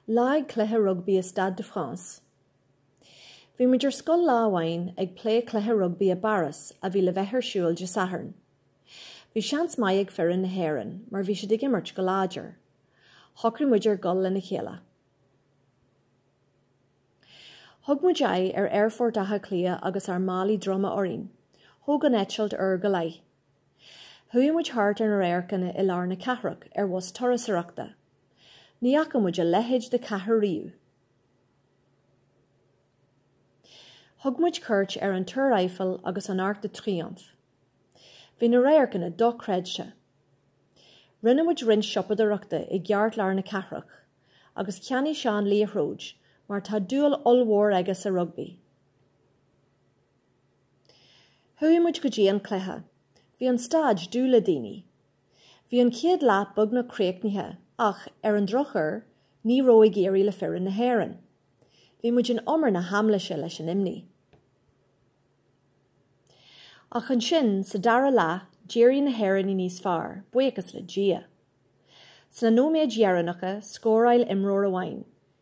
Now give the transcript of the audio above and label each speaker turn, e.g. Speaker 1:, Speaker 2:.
Speaker 1: Lá ag cluiche rugbaí i Stade de France. Bhí muid ar scoil lá amháin ag plé cluiche rugbaí i bPáras a bhí le bheith ar siúl Dé Sathairn. Bhí seans maith ag foireann na hÉireann mar bhí siad ag imirt go láidir. Shocraigh muid ar dhul lena chéile. Thug muid aghaidh ar Aerfort Átha Cliath agus ár málaí droma orainn. Thóg an eitilt uair go leith. Chuaigh muid thart ar na radharcanna i lár na cathrach ar bhus turasóireachta. Ní fhaca muid a leithéid de chathair riamh! Thug muid cuairt ar an Túr Eiffel agus an Arc de Triomphe. Bhí na radharcanna dochreidte! Rinne muid roinnt siopadóireachta i gceartlár na cathrach, agus cheannaigh Seán liathróid mar tá dúil ollmhór aige sa rugbaí. Chuaigh muid go dtí an cluiche. Bhí an staid dubh le daoine. Bhí an chéad leath beagnach críochnaithe ach, ar an drochuair, ní raibh ag éirí le foireann na hÉireann. Bhí muid in umar na haimléise leis an imní. Ach ansin, sa dara leath, d'éirigh na hÉireannaigh níos fearr, buíochas le Dia. Sna nóiméid dheireanacha, scóráil imreoir amháin,